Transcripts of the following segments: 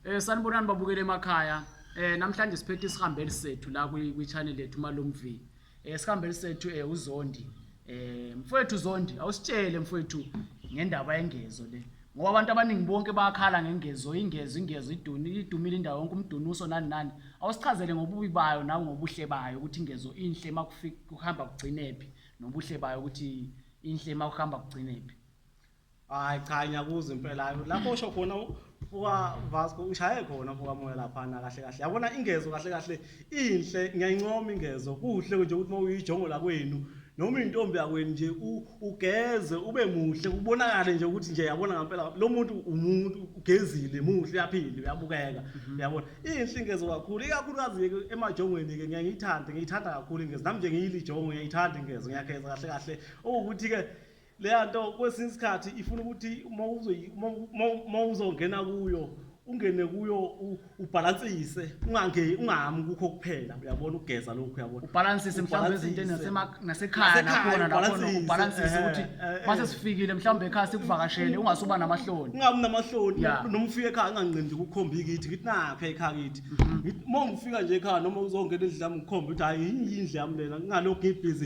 Eh sanibonani babukele emakhaya. Eh namhlanje siphethe isihambeli sethu la kwi channel lethu Malumvi. Eh sihambeli sethu eh uZondi. Eh mfowethu Zondi awusitshele mfowethu ngendaba yengezo le. Ngoba abantu abaningi bonke bayakhala ngengezo, ingezo, ingezo iduni, idumile indawo yonke umdunuso nani nani. Awusichazele ngobubi bayo nawe ngobuhle bayo ukuthi ingezo inhle makufika kuhamba kugcinephi nobuhle bayo ukuthi inhle makuhamba kugcinephi. hayi cha ngiyakuzwa impela hayi lapho usho khona u- buka Vasco ushaye khona buka moya laphana kahle kahle yabona ingezo kahle kahle inhle ngiyayincoma ingezo kuhle nje ukuthi mawuyijongo la kwenu noma intombi yakwenu nje u- ugeze ube muhle kubonakale nje ukuthi nje yabona ngempela lo muntu umuntu ugezile muhle uyaphila uyabukeka uyabona inhle ingezo kakhulu ikakhulukazi ke emajongweni ke ngiyayithanda ngiyithanda kakhulu ingezo nami nje ngiyilijongo ngiyayithanda ingezo ngiyageza kahle kahle ukuthi ke leya nto kwesinye isikhathi ifuna ukuthi uma uzongena kuyo ungene kuyo ubhalansise ungange ungami kukho kuphela uyabona ukugeza lokhu uyabona ubhalansise mhlawumbe izinto nasekhaya nakhona nakhona ubhalansise ukuthi mase sifikile mhlawumbe ekhaya sikuvakashele ungasuba namahloni ungabi namahloni noma ufike ekhaya unganqindi ukukhomba ikithi ngithi nakhe ekhaya kithi mhm. uma ungifika nje ekhaya noma uzongena endlini yami ngikhombe ukuthi hayi yindlu yami lena ngingalokhu ngibhizi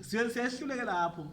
siye siyehluleke lapho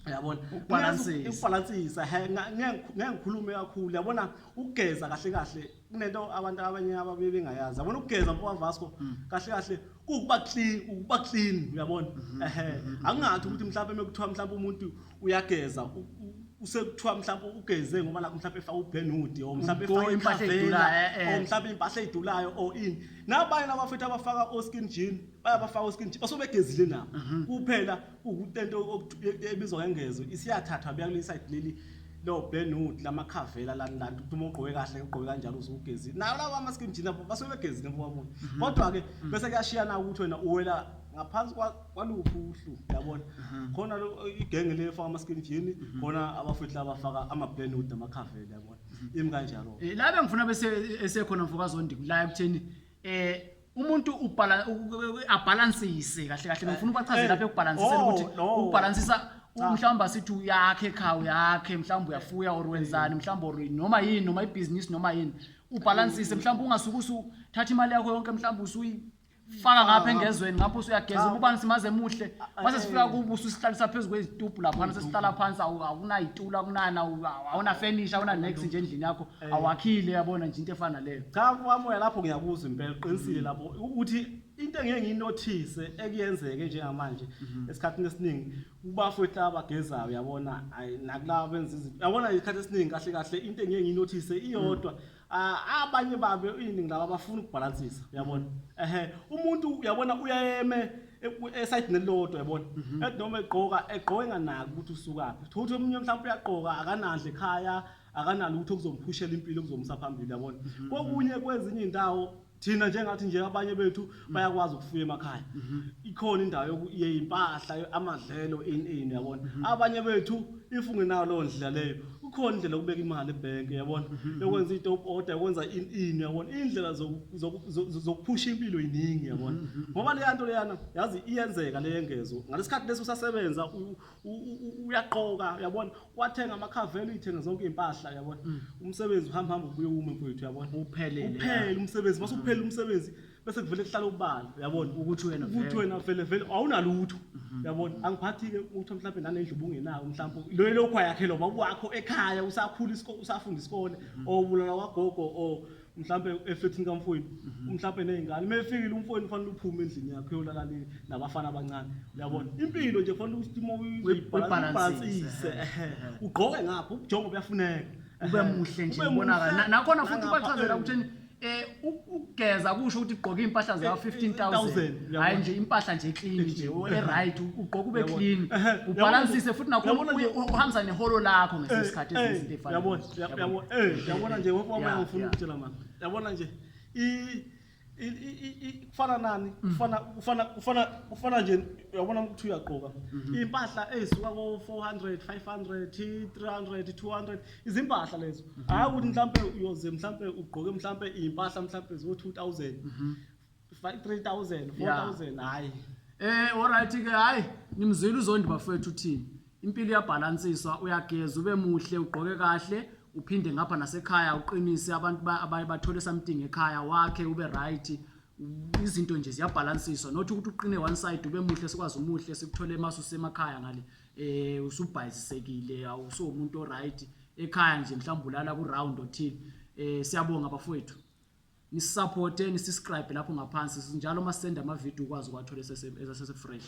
yabona Ukubalansisa. ukubalansisa he nga- ngeke ngeke ngikhulume kakhulu yabona ukugeza kahle kahle kunento abantu abanye ababe bengayazi yabona ukugeza mfoka Vasco Mm. kahle kahle kukuba clean ukuba clean uyabona Mm-hmm. ehe angingathi ukuthi mhlawumbe mekuthiwa mhlawumbe umuntu uyageza u- u- usekuthiwa mhlawumbe ugeze ngoba nakho mhlawumbe efaka ubhenudi or mhlawumbe Umgoyi, efaka impahla ikhavela, edulayo, eh, eh. or mhlawumbe impahla edulayo or ini nabanye nabafethu abafaka o-skin jean bayabafaka oskin nje osobegezile nabo mhm. kuphela ukutento e- ebizwa ngengezo isiyathathwa beya kule side leli lo Benwood lamakhavela lani lani ukuthi uma ugqoke kahle ugqoke kanjalo usugezi nawo lawa ama skin jeans basuke begezile mfowabo mhm. kodwa ke mhm. bese kuyashiyana ukuthi wena uwela ngaphansi kwaluphi uhlu yabona khona lo igenge le efaka ama skin jean khona abafethu laba faka ama Benwood amakhavela yabona imi kanjalo eh, la bengifuna bese esekhona mfokazondi la ekutheni eh umuntu ubhala abhalansise kahle kahle ngifuna ubachazela eh, lapha ekubhalansiseni oh, ukuthi ukubhalansisa ah. mhlawumbe asithi uyakhe khawu yakhe mhlawumbe uyafuya or wenzani mhlawumbe or noma yini noma ibhizinisi noma yini ubhalansise mhlawumbe ungasuke usuthatha imali yakho yonke mhlawumbe usuyi faka ngapha engezweni ngapho usuyageza ubani simaze muhle mase sifika kubo usihlalisa phezulu kwezitubhu lapha sesihlala phansi awunayitula kunana awuna furniture awuna next nje endlini yakho awakhile yabona nje into efana leyo cha kwamoya lapho ngiyakuzwa impela uqinisile lapho ukuthi into engeke ngiyinothise ekuyenzeke njengamanje mhm. esikhathini esiningi kubafowethu abagezayo yabona nakulaba benza izinto yabona isikhathi esiningi kahle kahle into engeke ngiyinothise iyodwa mm. abanye babe iningi laba bafuna ukubhalansisa uyabona ehe umuntu uyabona uyayeme esayidini elilodwa yabona mhm. ethi noma egqoka egqoke nganaki ukuthi usukaphi thothi omunye mhlawumbe uyagqoka akanandle ekhaya mm -hmm. akanalutho okuzomphushela impilo kuzomusa phambili yabona mhm. kokunye kwezinye indawo thina njengathi nje abanye bethu mhm. bayakwazi ukufuya emakhaya mhm. ikhona indawo yokuye impahla amadlelo in in yabona abanye bethu if ungenayo leyo ndlela leyo kukhona indlela yokubeka imali ebhenki yabona yokwenza i-top order yokwenza in in yabona iy'ndlela zokuphusha impilo yiningi yabona ngoba leya nto leyana yazi iyenzeka leyengezo ngalesi khathi lesi usasebenza uyaqoka uyabona wathenga amakhavelo uyithenga zonke izimpahla uyabona mm. umsebenzi uhamba hamba ubuye ume mfowethu uyabona uphelele uphele umsebenzi base uphele mm. umsebenzi bese kuvele kuhlala ubala uyabona ukuthi wena ukuthi wena vele vele awunalutho mm-hmm. uyabona angiphathi ke ukuthi mhlawumbe nanendlu ubungenayo mhlawumbe lo lokho yakhe lo baba wakho ekhaya usakhula isikole usafunda isikole mm-hmm. or ubulala kwagogo or mhlampe efethini kamfowenu mhm. mhlampe nezingane uma efikile umfowenu kufanele uphume endlini yakhe uyolala nabafana abancane uyabona mhm. impilo nje kufanele ukuthi uma uyibhalansise ugqoke ngapho ubujongo buyafuneka ube muhle nje ubonakala nakhona futhi ubachazela ukuthi eh ukugeza kusho ukuthi ugqoke impahla za 15000 hayi nje impahla nje clean nje e right ugqoka ube clean ubalansise futhi nakho uhambisa neholo lakho ngesikhathi ezinto efanele yabona nje wonke wamanye ngifuna ukutshela mama yabona nje kufana nani mm. kufana kufana kufana kufana nje uyabona ukuthi uyagqoka mm-hmm. impahla ezisuka ko 400 500 300 200 izimpahla lezo mm-hmm. hayi ukuthi mhlambe uyoze mhlambe ugqoke mhlambe impahla mhlambe zo 2000 Five- 3000 4000 hayi Eh alright ke hayi nimzwile uzondi bafethu uthini. Impilo iyabhalansiswa uyageza ube muhle ugqoke kahle uphinde ngapha nasekhaya uqinise abantu ba- abaye bathole something ekhaya wakhe ube right. U- Izinto nje ziyabhalansiswa not ukuthi uqine one side ube muhle sikwazi umuhle sikuthole masu semakhaya ngale eh usubhayizisekile awuso umuntu o right ekhaya nje mhlawumbe ulala ku round othile. Eh siyabonga bafethu. Nisisaphote, nisiscribe lapho ngaphansi njalo uma sisenda amavidiyo ukwazi ukuwathola esese-fresh.